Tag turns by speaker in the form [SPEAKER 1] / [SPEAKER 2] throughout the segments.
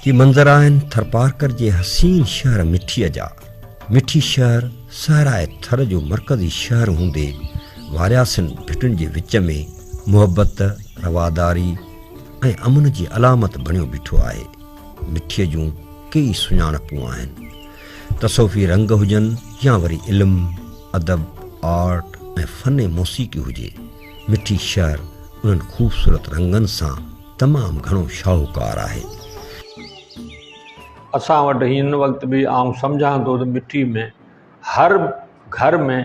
[SPEAKER 1] هي منظر آهن ٿرپارڪر جي حسين شهر مٺيء جا. مٺي شهر صحرائي ٿر جو مرڪزي شهر هوندي وارياسين ڀٽن جي وچ ۾ محبت، رواداري ۽ امن جي علامت بڻيو بيٺو آهي. مٺيء جون ڪيئي سڃاڻپون آهن. تصوفي رنگ هجن يا وري علم، ادب، آرٽ ۽ فن موسيقي هجي، مٺي شهر انهن خوبصورت رنگن سان تمام گهڻو شاهوڪار آهي.
[SPEAKER 2] اسان وٽ هن وقت به آئون سمجهان ٿو ته مٺي ۾ هر گهر ۾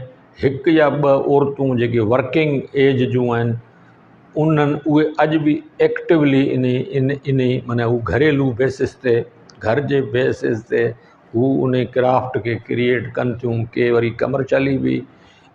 [SPEAKER 2] هڪ يا ٻه عورتون جيڪي ورڪنگ ايج جون آهن انهن اهي اڄ به ايڪٽولي انهي انهي معنيٰ هو گهريلو بيسس تي گهر جي بيسس تي هو انهي ڪرافٽ کي ڪريئيٽ ڪن ٿيون ڪي وري ڪمرشلي به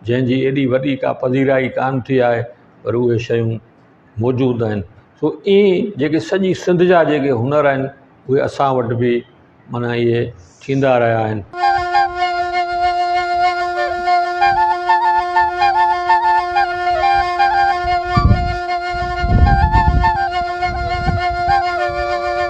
[SPEAKER 2] جنهن جي ايڏي وڏي ڪا پذيرائي ڪانه ٿي آهي پر اهي شيون موجود آهن سو ائين جيڪي سڄي سنڌ جا جيڪي هنر آهن اهي اسان وٽ به معنيٰ اهي ٿيندا رهيا آهن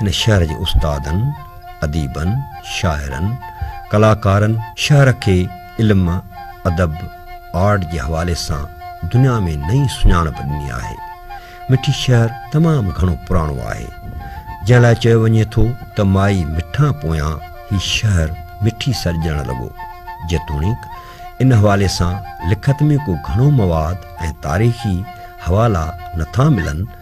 [SPEAKER 1] هن شهر جي استادن، اديبن، شاعرن، ڪلاڪارن شهر کي علم، ادب، آرٽ جي حوالي سان دنيا ۾ نئين سڃاڻپ ڏني آهي. مٺي شهر تمام گهڻو پراڻو آهي، جنهن لاء چيو وڃي ٿو ته مائي مٺان پويان هي شهر مٺي سڏجڻ لڳو. جيتوڻيڪ ان حوالي سان لکت ۾ ڪو گهڻو مواد ۽ تاريخي حوالا نٿا ملن،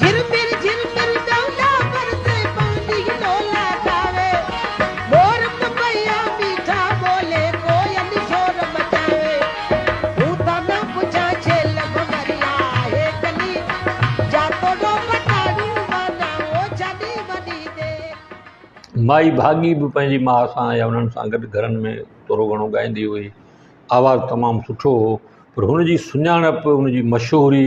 [SPEAKER 2] جھرمر جھرمر ڊولا برسي پاڻي ڊولا ڊاوي مور پپيا ميٺا ٻولي ڪوئل شور مچاوي هو ٿا نه پڇان ڇيل ڀنوريا آهي ڪلي جا توڙو ٻٽاڙو وانا او ڇڏي وڏي دير. مائي ڀاڳي به پنهنجي ماء سان يا انهن سان گڏ گھرن ۾ ٿورو گھڻو ڳائيندي هئي. آواز تمام سٺو هو پر هن جي سڃاڻپ، هن جي مشهوري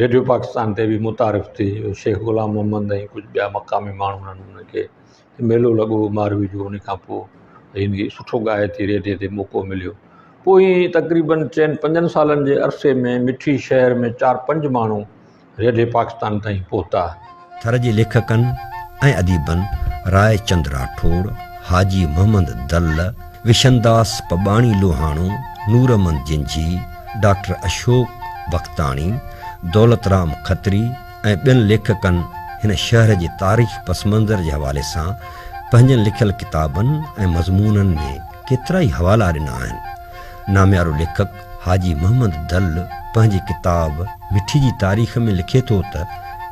[SPEAKER 2] ريڊيو پاڪستان تي بي متعارف ٿي شيخ غلام محمد ۽ ڪجھ ٻيا مقامي ماڻھو ھنن انھن کي ميلو لڳو ھو ماروي جو ان کان پوء ھن ھي سٺو ڳائي ٿي ريڊيو تي موقعو مليو پوء ھي تقريبن چئن پنجن سالن جي عرصي ۾ مٺي شھر ۾ چار پنج ماڻھو ريڊيو پاڪستان تائين پھتا ٿر جي
[SPEAKER 1] ليکڪن ۽ اديبن راء چند راٺوڙ، حاجي محمد دل، وشنداس پٻاڻي لوهاڻو، نورمحمد جنجهي، ڊاڪٽر اشوڪ بختاڻي، دولت رام کتري ۽ ٻين ليکڪن هن شهر جي تاريخي پس منظر جي حوالي سان پنهنجن لکيل ڪتابن ۽ مضمونن ۾ ڪيترائي حوالا ڏنا آهن. ناميارو ليکڪ حاجي محمد دل پنهنجي ڪتاب مٺي جي تاريخ ۾ لکي ٿو ته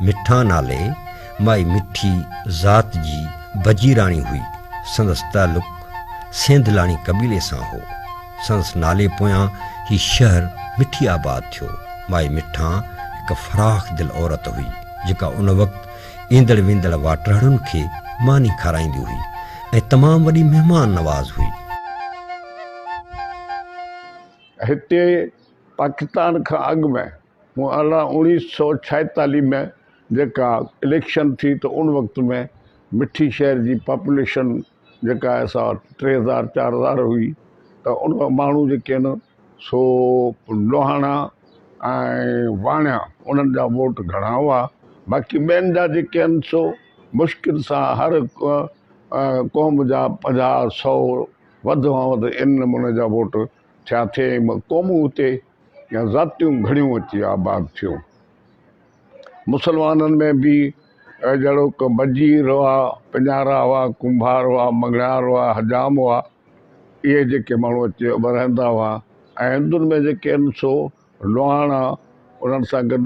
[SPEAKER 1] مٺا نالي مائي مٺي ذات جي بجيراڻي هئي. سندس تعلق سينڌلاڻي قبيلي سان هو. سندس نالي پويان هي شهر مٺي آباد ٿيو. مائي مٺا هڪ فراخ دل عورت هئي، جيڪا ان وقت ايندڙ ويندڙ واٽرهڙن کي ماني کارائيندي هئي ۽ تمام وڏي مهمان نواز هئي.
[SPEAKER 3] هتي پاڪستان کان اڳ ۾ مون ارڙهن اوڻيھ سئو ڇائيتاليھ ۾ جيڪا اليڪشن ٿي ته ان وقت ۾ مٺي شهر جي پاپوليشن جيڪا آهي سا ٽي هزار چار هزار هئي ته ان مان ماڻهو جيڪي آهن سو لوهاڻا ۽ واڻيا انهن جا ووٽ گهڻا هئا باقي ٻين جا جيڪي آهن سو مشڪل سان هر قوم جا پنجاهه سئو وڌ کان وڌ ان نموني جا ووٽ ٿيا ٿئي ۽ ٻه قومون اتي يا ذاتيون گهڻيون اچي آباد ٿيون. مسلمانن ۾ به جهڙوڪ بجير هئا، پڃارا هئا، ڪنڀار هئا، مڱڻهار هئا، حجام هئا، اهي جيڪي ماڻهو اچي رهندا هئا ۽ هندن ۾ جيڪي آهن سو، لوهاڻا انهن سان گڏ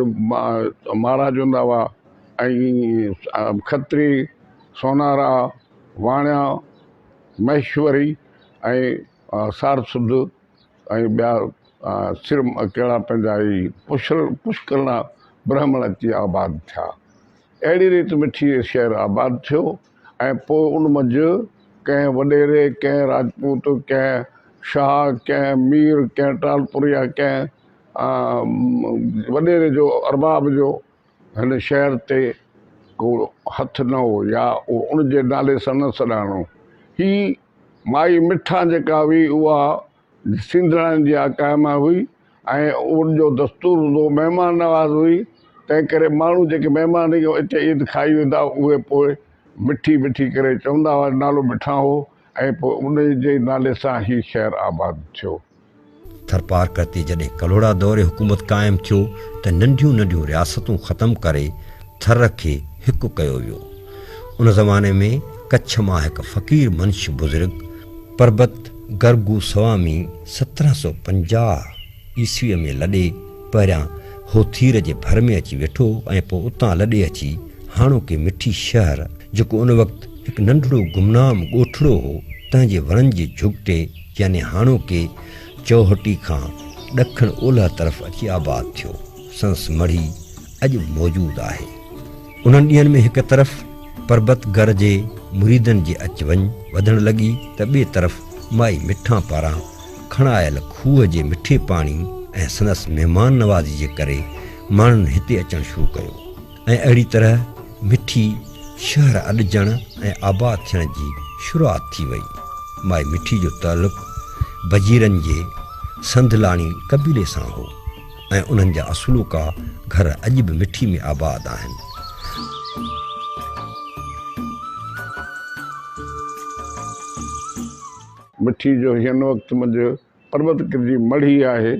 [SPEAKER 3] مهاراج هوندا هئا ۽ کتري، سونارا، واڻيا، مهيشوري ۽ سارسڌ ۽ ٻيا سر ڪهڙا پنهنجا هي پشڪرڻا برهمڻ اچي آباد ٿيا. اهڙي ريت مٺي شهر آباد ٿيو. ۽ پوء ان منجهه ڪنهن وڏيري، ڪنهن راجپوت، ڪنهن شاهه، ڪنهن مير، ڪنهن ٽالپر يا ڪنهن وڏيري جو، ارباب جو، هن شهر تي ڪو هٿ نه هو يا اهو ان جي نالي سان نه سڏاڻو. هي مائي مٺان جيڪا هئي، اها سينڌڙائن جي اها ڪائناء هئي ۽ ان جو دستور هوندو مهمان نواز هئي، تنهن ڪري ماڻهو جيڪي مهمان اچي عيد کائي ويندا اهي پوء مٺي مٺي ڪري چوندا هئا نالو مٺان هو ۽ پوء ان جي نالي سان هي شهر آباد ٿيو. ٿرپارڪر
[SPEAKER 1] تي جڏهن ڪلهوڙا دور حڪومت قائم ٿيو ته ننڍيون ننڍيون رياستون ختم ڪري ٿر کي هڪ ڪيو ويو. ان زماني ۾ ڪڇ مان هڪ فقير منش بزرگ، پربت گر گوسوامي سترهن سؤ پنجاهه عيسويء ۾ لڏي پهريان هوٿير جي ڀر ۾ اچي ويٺو ۽ پوء اتان لڏي اچي هاڻوڪي مٺي شهر، جيڪو ان وقت هڪ ننڍڙو گمنام ڳوٺڙو هو، تنهن جي ورن جي جهڳٽي يعني هاڻوڪي چوهٽي کان ڏکڻ اولهه طرف اچي آباد ٿيو. سندس مڙهي اڄ به موجود آهي. انهن ڏينهن ۾ هڪ طرف پربت گر جي مريدن جي اچ وڃ وڌڻ لڳي ته ٻئي طرف مائي مٺان پاران کڻايل کوهه جي مٺي پاڻي ۽ سندس مهمان نوازي جي ڪري ماڻهن هتي اچڻ شروع ڪيو ۽ اهڙي طرح مٺي شهر اڏجڻ ۽ آباد ٿيڻ جي شروعات ٿي وئي. مائي مٺي جو تعلق بجيرن جي سنڌ لاڻي قبيلي سان هو. ۽ انهن جا اصلوڪا گهر اڄ به مٺي ۾ آباد آهن.
[SPEAKER 3] مٺي جو هن وقت منجهه پربت ڪرجي مڙهي آهي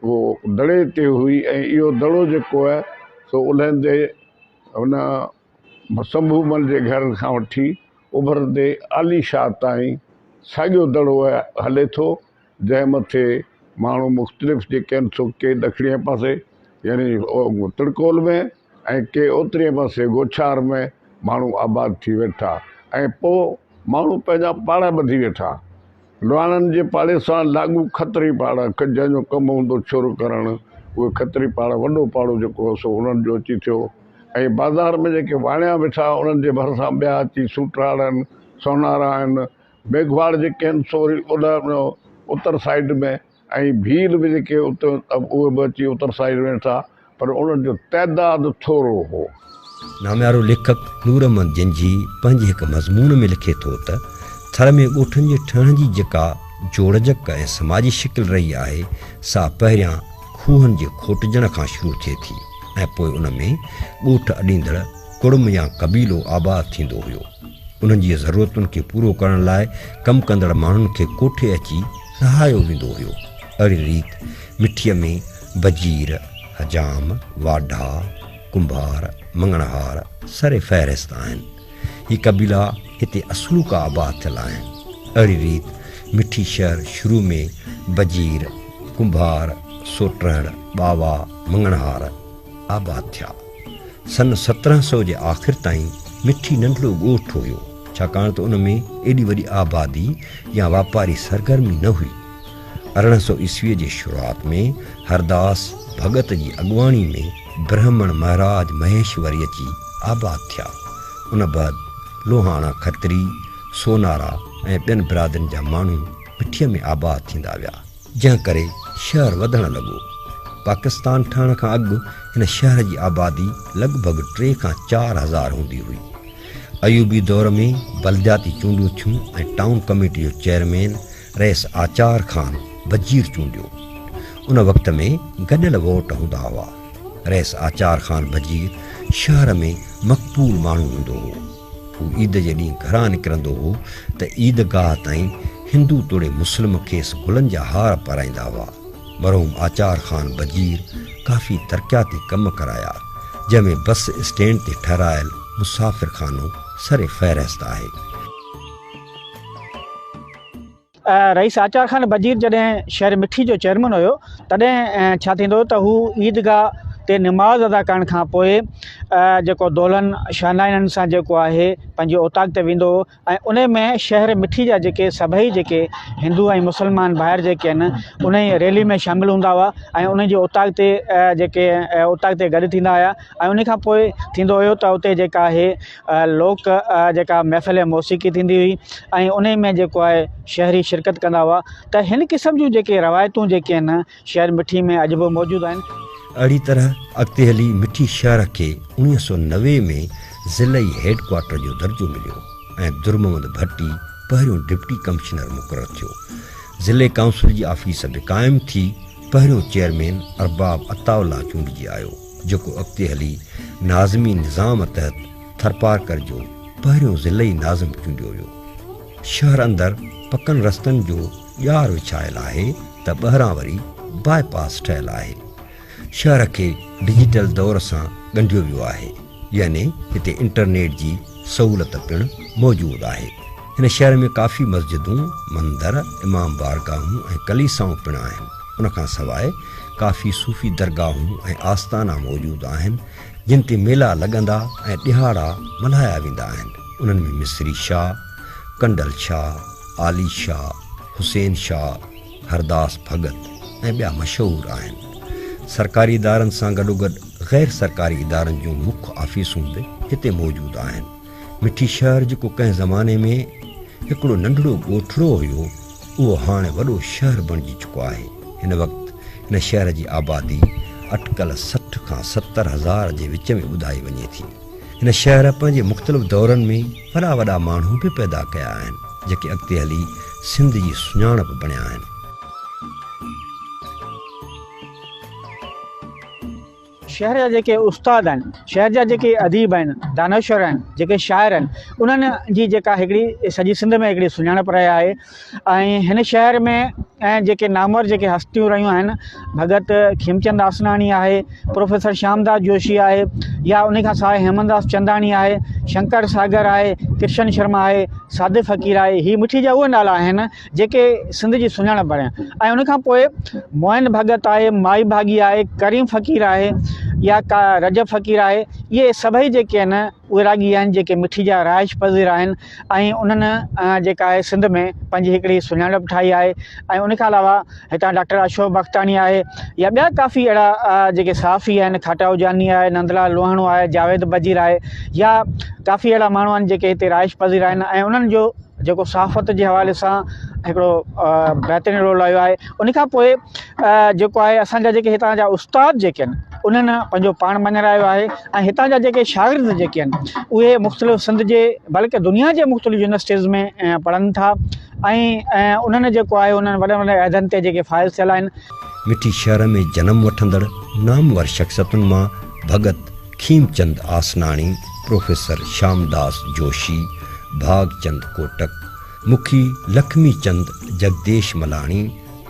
[SPEAKER 3] اهو دڙي تي هئي ۽ اهو دڙو جيڪو آهي سو الهندي هن سنڀومل جي گهر کان وٺي اڀرندي عالي شاهه تائين ساڳيو دڙو هلي ٿو. جنهن مٿي ماڻهو مختلف جيڪي آهن سو ڪي ڏکڻيء پاسي يعني ترڪول ۾ ۽ ڪي اترينء پاسي گوڇار ۾ ماڻهو آباد ٿي ويٺا ۽ پوء ماڻهو پنهنجا پاڙا ٻڌي ويٺا. لواڻن جي پاڙي سان لاڳو کتري پاڙا جنهن جو ڪم هوندو شروع ڪرڻ اهي کتري پاڙا وڏو پاڙو جيڪو هو سو انهن جو اچي ٿيو ۽ بازار ۾ جيڪي واڻيا ويٺا انهن جي ڀرسان ٻيا اچي سوٽراڙن، سونارا ۽ ميگهواڙ جي ڪين سوري اوڏهه ۾ اتر سائيڊ ۾ ۽ ڀيل به جيڪي اتي اهي به اچي اتر سائيڊ ۾ ويٺا پر انهن جو تعداد ٿورو هو. ناميارو
[SPEAKER 1] ليکڪ نور محمد جنجهي پنهنجي هڪ مضمون ۾ لکي ٿو ته، ٿر ۾ ڳوٺن جي ٺهڻ جي جيڪا جوڙجڪ ۽ سماجي شڪل رهي آهي، سا پهريان کوهن جي کوٽجڻ کان شروع ٿئي ٿي ۽ پوء ان ۾ ڳوٺ اڏيندڙ ڪڙم يا قبيلو آباد ٿيندو هيو. انهن جي ضرورتن کي پورو ڪرڻ لاء ڪم ڪندڙ ماڻهن کي ڪوٺي اچي رهايو ويندو هيو. اهڙي ريت مٺيء ۾ وزير، حجام، واڍا، ڪنڀار، مڱڻهار سر فهرست آهن. هي قبيلا هتي اصلوڪا آباد ٿيل آهن. اهڙي ريت مٺي شهر شروع ۾ وزير، ڪنڀار، سوٽرهڙ، ٻاوا، مڱڻهار آباد ٿيا. سن سترهن سئو جي آخر تائين مٺي ننڍڙو ڳوٺ هيو، ڇاڪاڻ ته ان ۾ ايڏي وڏي آبادي يا واپاري سرگرمي نه هئي. ارڙهن سئو عيسويء جي شروعات ۾ هرداس ڀڳت جي اڳواڻي ۾ برهمڻ مهراج مهيشوري اچي آباد ٿيا. ان بعد لوهاڻا کتري، سونارا ۽ ٻين برادرين جا ماڻهو مٺيء ۾ آباد ٿيندا ويا. جنهن ڪري شهر وڌڻ لڳو. پاڪستان ٺهڻ کان اڳ هن شهر جي آبادي لڳ ڀڳ ٽي کان چار هزار هوندي هئي. ايوبي دور ۾ بلدياتي چونڊون ٿيون ۽ ٽائون ڪميٽي جو چيئرمين رئيس آچار خان وزير چونڊيو. ان وقت ۾ گڏيل ووٽ هوندا هئا. رئيس آچار خان وزير شهر ۾ مقبول ماڻهو هوندو هو. هو عيد جي ڏينهن گهران نڪرندو هو ته عيد گاهه تائين هندو توڙي مسلم کيس گلن جا هار پارائيندا هئا. مرحوم آچار خان بجير ڪافي ترقياتي ڪم ڪرايا، جنهن ۾ بس اسٽينڊ تي ٺهرايل مسافر خانو سر فهرست آهي.
[SPEAKER 4] رئيس آچار خان وزير جڏهن شهر مٺي جو چيئرمن هيو تڏهن ڇا ٿيندو ته هو عيدگاهه تي نماز ادا ڪرڻ کان پوء جيڪو دولن شانائنن سان جيڪو آهي پنهنجي اوطاق تي ويندو هو ۽ ان ۾ شهر مٺي جا جيڪي سڀئي جيڪي هندو ۽ مسلمان ڀائر جيڪي آهن ان جي ريلي ۾ شامل هوندا هئا ۽ ان جي اوطاق تي جيڪي اوطاق تي گڏ ٿيندا هيا ۽ ان کان پوء ٿيندو هيو ته اتي جيڪا آهي لوڪ جيڪا محفل موسيقي ٿيندي هئي ۽ ان ۾ جيڪو آهي شهري شرڪت ڪندا هئا ته هن قسم جون جيڪي روايتون جيڪي آهن شهر مٺي ۾ اڄ به موجود آهن. اهڙي طرح
[SPEAKER 1] اڳتي هلي مٺي شهر کي اڻويهه سؤ نوي ۾ ضلعي هيڊ ڪوارٽر جو درجو مليو ۽ درمحمد ڀٽي پهريون ڊپٽي ڪمشنر مقرر ٿيو. ضلعي ڪائونسل جي آفيس به قائم ٿي پهريون چيئرمين ارباب عطاء الله چونڊجي آيو. جيڪو اڳتي هلي ناظمي نظام تحت ٿرپارڪر جو پهريون ضلعي ناظم چونڊيو ويو. شهر اندر پڪن رستن جو ڄار وڇايل آهي ته ٻهران وري باء پاس ٺهيل آهي. شهر کي ڊجيٽل دور سان ڳنڍيو ويو آهي يعني هتي انٽرنيٽ جي سهولت پڻ موجود آهي. هن شهر ۾ ڪافي مسجدون، مندر، امام بارگاهون ۽ ڪليسائون پڻ آهن. ان کان سواء ڪافي صوفي درگاهون ۽ آستانا موجود آهن، جن تي ميلا لڳندا ۽ ڏهاڙا ملهايا ويندا آهن. انهن ۾ مصري شاهه، ڪنڊل شاهه، عالي شاهه، حسين شاهه، هرداس ڀڳت ۽ ٻيا مشهور آهن. سرڪاري ادارن سان گڏوگڏ غير سرڪاري ادارن جون مک آفيسون به هتي موجود آهن. مٺي شهر جيڪو ڪنهن زماني ۾ هڪڙو ننڍڙو ڳوٺڙو هيو اهو هاڻي وڏو شهر بڻجي چڪو آهي. هن وقت هن شهر جي آبادي اٽڪل سٺ کان ستر هزار جي وچ ۾ ٻڌائي وڃي ٿي. هن شهر پنهنجي مختلف دورن ۾ وڏا وڏا ماڻهو به پيدا ڪيا آهن جيڪي اڳتي هلي سنڌ جي سڃاڻپ بڻيا آهن.
[SPEAKER 4] شهر جا جيڪي استاد آهن، شهر جا جيڪي اديب آهن، دانشور آهن، جيڪي شاعر آهن، انهن جي جيڪا هڪڙي سڄي سنڌ ۾ هڪڙي سڃاڻپ رهي آهي ۽ هن شهر ۾ ۽ جيڪي نامور جيڪي هستيون رهيون آهن، ڀڳت کيمچند آسراڻي آهي، پروفيسر شيامداس جوشي آهي يا انهي کان سواء هيمنداس چنداڻي آهي، شنڪر ساگر آهي، ڪرشن شرما آهي، صادق فقير آهي، هي مٺي جا اهي نالا آهن جيڪي سنڌ جي سڃاڻپ بڻيا ۽ ان کان پوء معين ڀڳت آهي، مائي ڀاڳي آهي، ڪريم فقير آهي يا رجب فقير آهي، اهي سڀئي جيڪي آهن اهي راڳي آهن جيڪي مٺي جا رهائش پذير آهن ۽ انهن جيڪا آهي سنڌ ۾ پنهنجي هڪڙي سڃاڻپ ٺاهي آهي ۽ ان کان علاوه هتان ڊاڪٽر اشوڪ بختاڻي آهي يا ٻيا ڪافي اهڙا جيڪي صحافي آهن کاٽائو جاني آهي نندلال لوهاڻو آهي جاويد بجير آهي يا ڪافي اهڙا ماڻهو آهن جيڪي هتي رهائش پذير آهن ۽ انهن جو جيڪو صحافت جي حوالي سان هڪڙو بهترين رول رهيو آهي ان کان پوء جيڪو آهي اسان جا جيڪي هتان جا استاد جيڪي آهن انهن پنهنجو پاڻ مڃرايو آهي ۽ هتان جا جيڪي شاگرد جيڪي آهن اهي مختلف سنڌ جي بلڪه دنيا جي مختلف يونيورسٽيز ۾ پڙهن ٿا ۽ انهن جيڪو آهي انهن وڏن وڏن عهدن تي جيڪي فائز ٿيل آهن. مٺي شهر
[SPEAKER 1] ۾ جنم وٺندڙ نامور شخصيتن مان ڀڳت کيمچند آسناڻي، پروفيسر شامداس جوشي، ڀاڳچند ڪوٽڪ، مکي لکمي چند، جڳديش ملاڻي،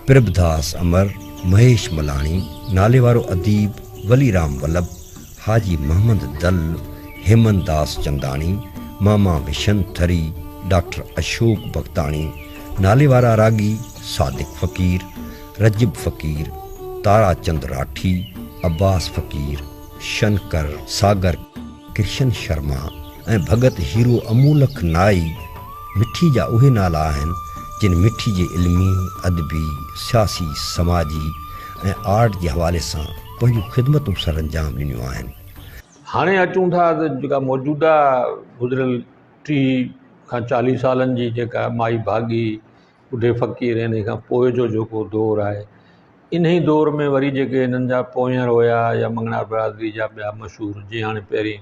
[SPEAKER 1] پرڀداس امر، مهيش ملاڻي، ناليوارو اديب وليرام ولڀ، حاجي محمد دل، هيمن داس چنداڻي، ماما وشن ٿري، ڊاڪٽر اشوڪ بختاڻي، ناليوارا راڳي صادق فقير، رجب فقير، تاراچند راٺي، عباس فقير، شنڪر، ساگر، ڪرشن شرما ۽ ڀڳت هيرو امولڪ نائي مٺي جا اهي نالا آهن جن مٺي جي علمي، ادبي، سياسي، سماجي ۽ آرٽ جي حوالي سان پنهنجون خدمتون سرانجام ڏنيون آهن. هاڻي اچون
[SPEAKER 2] ٿا ته جيڪا موجوده گذريل ٽيهه کان چاليهه سالن جي جيڪا مائي ڀاڳي ٻڍي فقير ۽ انهي کان پوء جو جيڪو دور آهي انهي دور ۾ وري جيڪي هنن جا پونئير هيا يا مڱڻهار برادري جا ٻيا مشهور جي هاڻي پهرين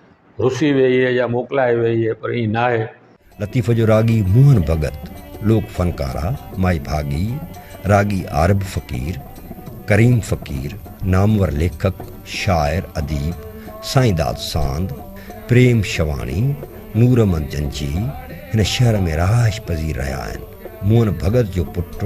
[SPEAKER 2] رسي ويئي هي يا موڪلائي ويئي هي پر ائين ناهي. لطيف جو راڳي
[SPEAKER 1] موهن ڀڳت، لوڪ فنڪارا، مائي ڀاڳي، راڳي عارب فقير، ڪريم فقير، نامور ليکڪ، شاعر، اديب، سائين داد ساند، پريم شواڻي، نورمحمد جنجهي، هن شهر ۾ رهائش پذير رهيا آهن. موهن ڀڳت جو پٽ،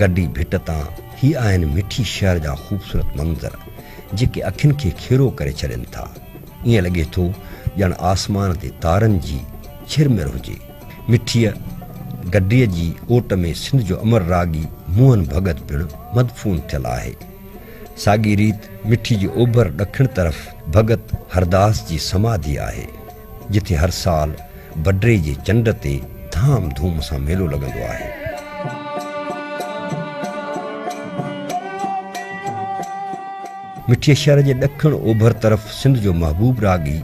[SPEAKER 1] گڊي ڀٽ تان هي آهن مٺي شهر جا خوبصورت منظر جيڪي اکين کي کيرو ڪري ڇڏين ٿا. ائين لڳي ٿو ڄڻ آسمان تي تارن جي ڇرمر هجي. مٺيء گڊيء جي اوٽ ۾ سنڌ جو امر راڳي موهن ڀڳت پڻ مدفون ٿيل آهي. ساڳي ريت مٺي جي اوڀر ڏکڻ طرف ڀڳت هرداس جي سماڌي آهي. جتي هر سال بڊري جي چنڊ تي ڌام ڌوم سان ميلو لڳندو آهي. مٺيء شهر جي ڏکڻ اوڀر طرف سنڌ جو محبوب راڳي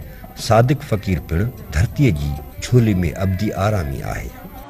[SPEAKER 1] صادق فقير پڻ ڌرتيء جي جهولي ۾ ابدي آرامي آهي.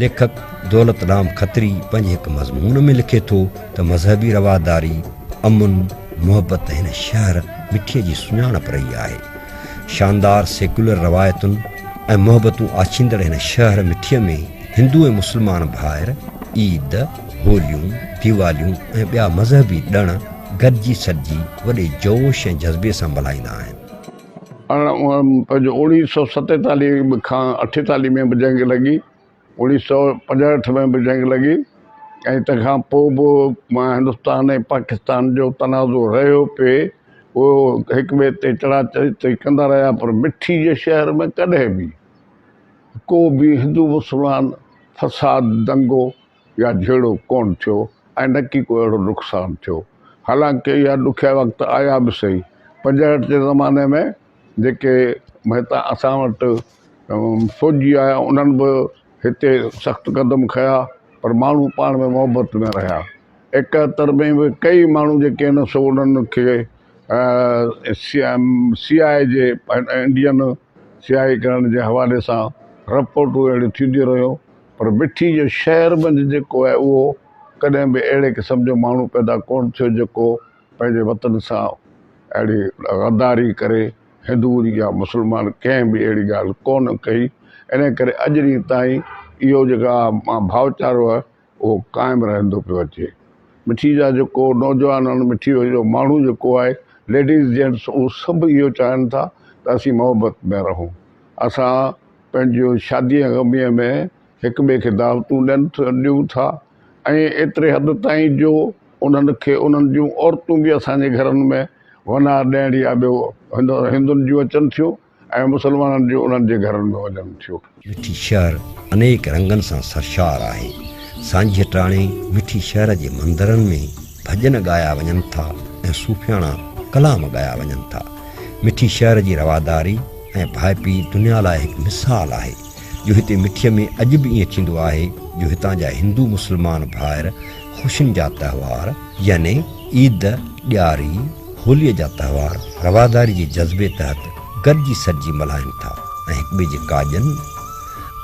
[SPEAKER 1] ليکڪ دولت رام کتري پنهنجي هڪ مضمون ۾ لکي ٿو ته مذهبي رواداري، امن، محبت هن شهر مٺي جي سڃاڻپ رهي آهي. شاندار سيڪيولر روايتن ۽ محبتون آڇيندڙ هن شهر مٺي ۾ هندو ۽ مسلمان ڀائر عيد، هوليون، ديواليون ۽ ٻيا مذهبي ڏڻ گڏجي سڏجي وڏي جوش ۽ جذبي سان ملهائيندا آهن. اوڻيهه سؤ ستيتاليهه
[SPEAKER 3] کان اٺيتاليهه ۾ به جنگ لڳي. اوڻيهه سؤ پنجهٺ ۾ به جنگ لڳي ۽ تنهن کان پوء به هندستان ۽ پاڪستان جو تنازع رهيو پي. اهي هڪ ٻئي تي چڙها چڙهي ڪندا رهيا پر مٺي جي شهر ۾ ڪڏهن به ڪو به هندو مسلمان فساد، دنگو، يا جهيڙو ڪونه ٿيو ۽ نڪي ڪو اهڙو نقصان ٿيو. حالانڪ اها ڏکيا وقت آيا به سهي. پنجهٺ جي زماني ۾ جيڪي مهتا اسان وٽ فوجي آيا انهن به هتي سخت قدم کنيا پر ماڻهو پاڻ ۾ محبت ۾ رهيا. ايڪهتر ۾ به ڪيئي ماڻهو جيڪي هن سو انهن کي سي آء اي جي انڊين سي آء اي ڪرڻ جي حوالي سان رپورٽون اهڙيون ٿينديون رهيون. پر مٺي جو شهر منجهه جيڪو آهي اهو ڪڏهن به اهڙي قسم جو ماڻهو پيدا ڪونه ٿيو جيڪو پنهنجي وطن سان اهڙي غداري ڪري هندون يا مسلمان ڪنهن به اهڙي ڳالهه ڪونه ڪئي انهي ڪري اڄ ڏينهن تائين اهو جيڪا ڀائوچارو آهي اهو قائم رهندو پيو اچي مٺي جا جيڪو نوجوان آهن مٺي جو ماڻهو جيڪو آهي ليڊيز جينٽس اهو سڀ اهو چاهين ٿا ته اسين محبت ۾ رهون اسان پنهنجي شاديء ۽ غميء ۾ هڪ ٻئي کي دعوتون ڏين ٿا ڏيون ٿا ۽ ايتري حد تائين جو انهن کي انهن جون عورتون به اسان جي گهرن ۾ ونار ڏيڻ يا ٻيو هندن جون اچن ٿيون ۽ مسلمانن جون انهن جي گهرن ۾ وڃن ٿيون. وٺي شهر
[SPEAKER 1] انيڪ رنگن سان سرشار آهي. سانجهيء ٽاڻي وٺي شهر جي مندرن ۾ ڀڄن ڳايا وڃن ٿا ۽ صوفياڻا ڪلام ڳايا وڃن ٿا. وٺي شهر جي رواداري، ۽ ڀائپي دنيا لاء هڪ مثال آهي جو هتي مٺيء ۾ اڄ به ائين ٿيندو آهي جو هتان جا هندو مسلمان ڀائر خوشين جا تهوار يعني عيد، ڏياري، هوليء جا تهوار رواداري جي جذبي تحت گڏجي سڏجي ملهائين ٿا ۽ هڪٻئي جي ڪاڄن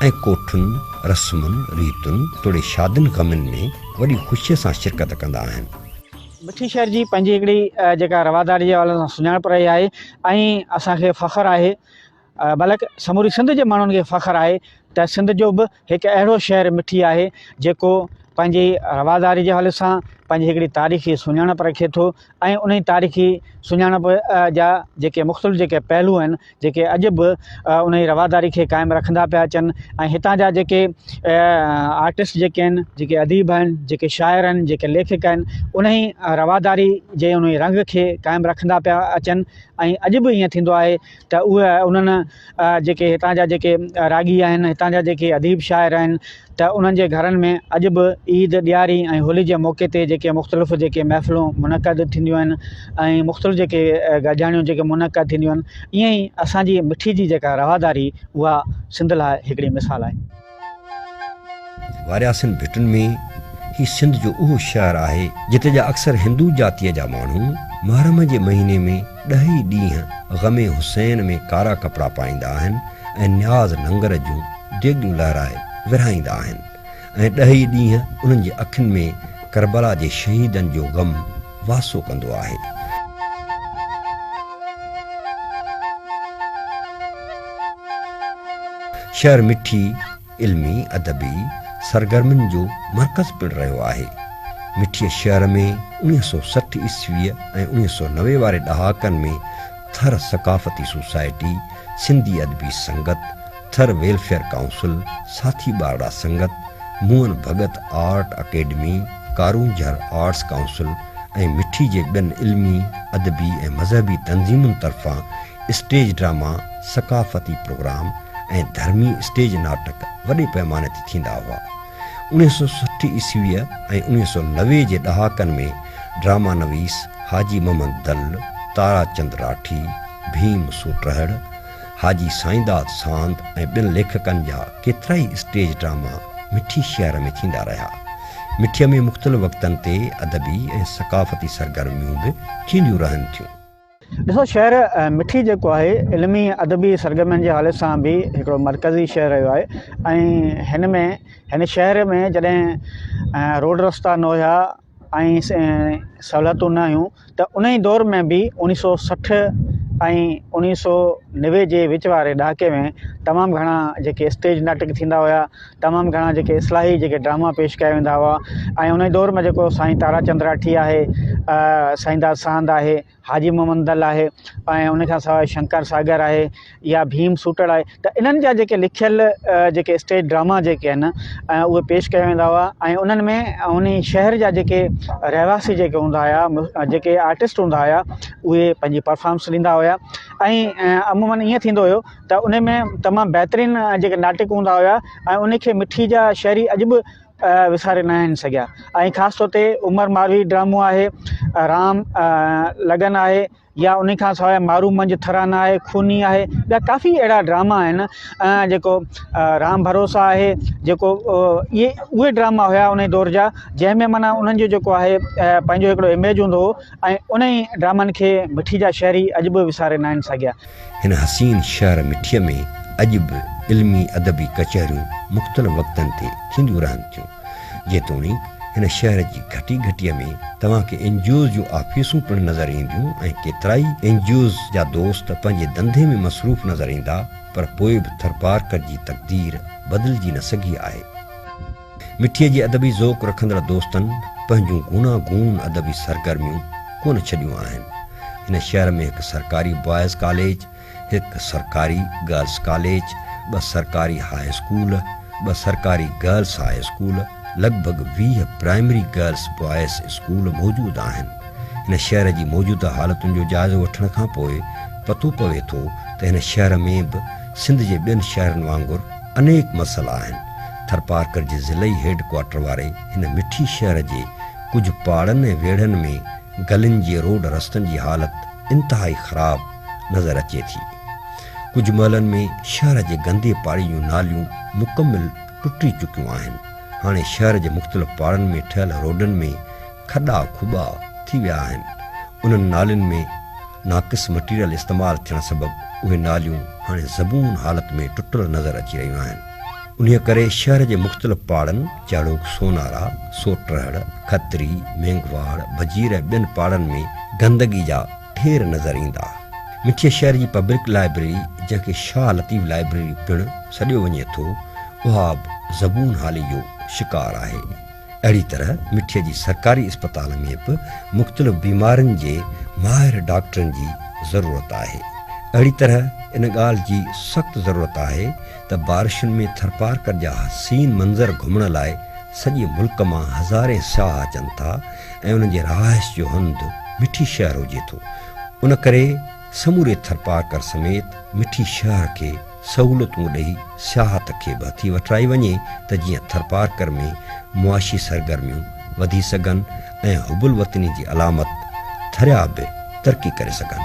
[SPEAKER 1] ۽ ڪوٺن، رسمن، ريتن توڙي شادين غمين ۾ وڏي خوشيء سان شرڪت ڪندا آهن. مٺي شهر
[SPEAKER 4] جي پنهنجي هڪڙي جيڪا رواداريء جي حوالي سان سڃاڻپ رهي آهي ۽ اسان کي فخر آهي بلڪ سموري سنڌ جي ماڻهن کي فخر آهي ته سنڌ جو به هڪ اهڙو شهر مٺي آهي جيڪو پنهنجي رواداري جي حوالي سان پنهنجي هڪڙي تاريخي سڃاڻپ رکي ٿو ۽ انهي تاريخي سڃاڻپ جا جيڪي مختلف جيڪي پهلو آهن جيڪي اڄ به انهي رواداري کي قائم رکندا پيا اچن ۽ هتان جا جيڪي آرٽسٽ جيڪي آهن جيڪي اديب آهن جيڪي شاعر آهن جيڪي ليکڪ آهن انهي رواداري جي انهي رنگ کي قائم رکندا پيا اچن ۽ اڄ به ائين ٿيندو آهي ته اهي انهن جيڪي هتان جا جيڪي راڳي آهن هتان جا جيڪي اديب شاعر آهن ته انهن جي گهرن ۾ اڄ به عيد، ڏياري ۽ هولي جي موقعي تي جيڪي مختلف جيڪي محفلون منعقد ٿينديون آهن ۽ مختلف جيڪي گڏجاڻيون جيڪي منعقد ٿينديون آهن ائين ئي اسان جي مٺي جي جيڪا رواداري اها سنڌ لاء هڪڙي مثال آهي.
[SPEAKER 1] وارياسين ڀٽن ۾ هي سنڌ جو اهو شهر آهي جتي جا اڪثر هندو جاتيء جا ماڻهو محرم جي مهيني ۾. ڏهي ڏينهن غم حسين ۾ ڪارا ڪپڙا پائيندا آهن ۽ نياز ننگر جون ڊيگون لهرائي ورهائيندا آهن ۽ ڏهي ڏينهن انهن جي اکين ۾ ڪربلا جي شهيدن جو غم واسو ڪندو آهي. شهر مٺي، علمي ادبي سرگرمين جو مرڪز پڻ رهيو آهي. مٺيء شهر ۾ اڻيهه سؤ سٺ عيسويء ۽ اڻيهه سؤ نوي واري ڏهاڪن ۾ ٿر ثقافتي society, Sindhi Adabi Sangat, Thar welfare council, Sathi Barra Sangat, Mohan Bhagat art academy, Karoonjhar arts council ۽ Mithi جي ٻين علمي، ادبي ۽ مذهبي تنظيمن طرفان اسٽيج ڊراما، ثقافتي پروگرام ۽ ڌرمي اسٽيج ناٽڪ وڏي پئماني تي ٿيندا هئا. اڻيهه سؤ سٺ عيسويء ۽ اڻيهه سؤ نوي جي ڏهاڪن ۾ ڊراما نويس حاجي محمد دل، تارا چند راٺي، ڀيم سوٽرهڙ، حاجي سائينداد ساند ۽ ٻين ليکڪن جا ڪيترائي اسٽيج ڊراما مٺي شهر ۾ ٿيندا رهيا. مٺيء ۾ مختلف وقتن تي ادبي ۽ ثقافتي سرگرميون به ٿينديون رهن ٿيون. ڏسو شهر
[SPEAKER 4] مٺي جيڪو آهي علمي ۽ ادبي سرگرمين جي حوالي سان به هڪڙو مرڪزي شهر رهيو آهي ۽ هن ۾ هن شهر ۾ جڏهن روڊ رستا نه هيا ۽ سهولتون نه هيون ته ان ئي دور ۾ به اوڻيهه سو سٺ ۽ اوڻيهه سو نوي جي وچ واري ڏهاڪي ۾ تمام گهڻا جيڪي اسٽيج ناٽڪ ٿيندا هيا تمام گهڻا جيڪي اصلاحي جيڪي ڊراما پيش ڪيا ويندا هئا ۽ انهي دور ۾ جيڪو سائين تارا چند راٺي آهي سائين داد ساند آهي حاجي محمد دل آهي ۽ ان کان سواء شنڪر ساگر آهي يا ڀيم سوٽڙ آهي ته انهن جا جيڪي لکيل جيڪي اسٽيج ڊراما جيڪي آهن اهي پيش ڪيا ويندا هئا ۽ انهن ۾ ان شهر جا جيڪي رهواسي جيڪي هوندا هيا جيڪي آرٽسٽ هوندا هيا اهي پنهنجي پرفارمنس ڏيندا هيا ۽ عمومن ائين ٿيندو هيو ته انهي ۾ تمام بهترين جيڪي ناٽڪ هوندا هيا ۽ انهي کي مٺي جا شهري اڄ به وساري ناهن سگهيا ۽ خاص طور تي عمر ماروي ڊرامو آهي رام لگن آهي يا انهي کان سواء مارو منجهه ٿرا نه آهي خوني آهي ٻيا ڪافي اهڙا ڊراما آهن جيڪو رام ڀروسا آهي جيڪو اهي اهي ڊراما هيا انهي دور جا جنهن ۾ معنيٰ انهن جو جيڪو آهي پنهنجو هڪڙو اميج هوندو هو ۽ انهي ڊرامن کي مٺي جا شهري اڄ به وساري ناهن سگهيا هن حسين
[SPEAKER 1] شهر مٺيء ۾ اڄ به علمي ادبي ڪچهريون مختلف وقتن تي ٿينديون رهن ٿيون. جيتوڻيڪ هن شهر جي گهٽي گهٽيء ۾ توهان کي اين جي اوز جون آفيسون پڻ نظر اينديون ۽ ڪيترائي اين جي اوز جا دوست پنهنجي ڌنڌي ۾ مصروف نظر ايندا پر پوء به ٿرپارڪر جي تقدير بدلجي نه سگهي آهي. مٺيء جي ادبي ذوق رکندڙ دوستن پنهنجون گونا گون ادبي سرگرميون ڪونه ڇڏيون آهن. هن شهر ۾ هڪ سرڪاري بوائز ڪاليج، هڪ سرڪاري گرلس ڪاليج، ٻه سرڪاري هاء اسڪول، ٻه سرڪاري گرلس هاء اسڪول، لڳ ڀڳ ويهه پرائمري گرلس بوائز اسڪول موجود آهن. هن شهر جي موجوده حالتن جو جائزو وٺڻ کان پوء پتو پوي ٿو ته هن شهر ۾ به سنڌ جي ٻين شهرن وانگر انيڪ مسئلا آهن. ٿرپارڪر جي ضلعي هيڊ ڪوارٽر واري هن مٺي شهر جي ڪجهه پاڙن ۽ ويڙهن ۾ گلين جي روڊ رستن جي حالت انتهائي خراب نظر اچي ٿي. ڪجهه محلن ۾ شهر جي گندي پاڙي جون ناليون مڪمل ٽٽي چڪيون آهن. هاڻي شهر جي مختلف پاڙن ۾ ٺهيل روڊن ۾ کڏا کوٻا ٿي ويا آهن. انهن نالين ۾ ناقص مٽيريل استعمال ٿيڻ سبب اهي ناليون هاڻي زبون حالت ۾ ٽٽل نظر اچي رهيون آهن. انهيء ڪري شهر جي مختلف پاڙن جهڙوڪ سونارا، سوٽرهڙ، کتري، مينگهواڙ، وزير ۽ ٻين پاڙن ۾ گندگي جا ڍير نظر ايندا. مٺيء شهر جي پبلڪ لائبريري جنهن کي شاهه لطيف لائبريري پڻ سڏيو وڃي ٿو، اها به زبون حالي جو شڪار آهي. اهڙي طرح مٺيء جي سرڪاري اسپتال ۾ به مختلف بيمارين جي ماهر ڊاڪٽرن جي ضرورت آهي. اهڙي طرح ان ڳالهه جي سخت ضرورت آهي ته بارشن ۾ ٿرپارڪر جا حسين منظر گهمڻ لاء سڄي ملڪ مان هزارين سياح اچن ٿا ۽ انهن جي رهائش جو هنڌ مٺي شهر هجي ٿو. ان ڪري سموري ٿرپارڪر سميت مٺي شهر کي سهولتون ڏئي سياحت کي به هٿي وٺرائي وڃي ته جيئن ٿرپارڪر ۾ معاشي سرگرميون وڌي سگهن ۽ حب الوطني جي علامت ٿريا به ترقي ڪري سگهن.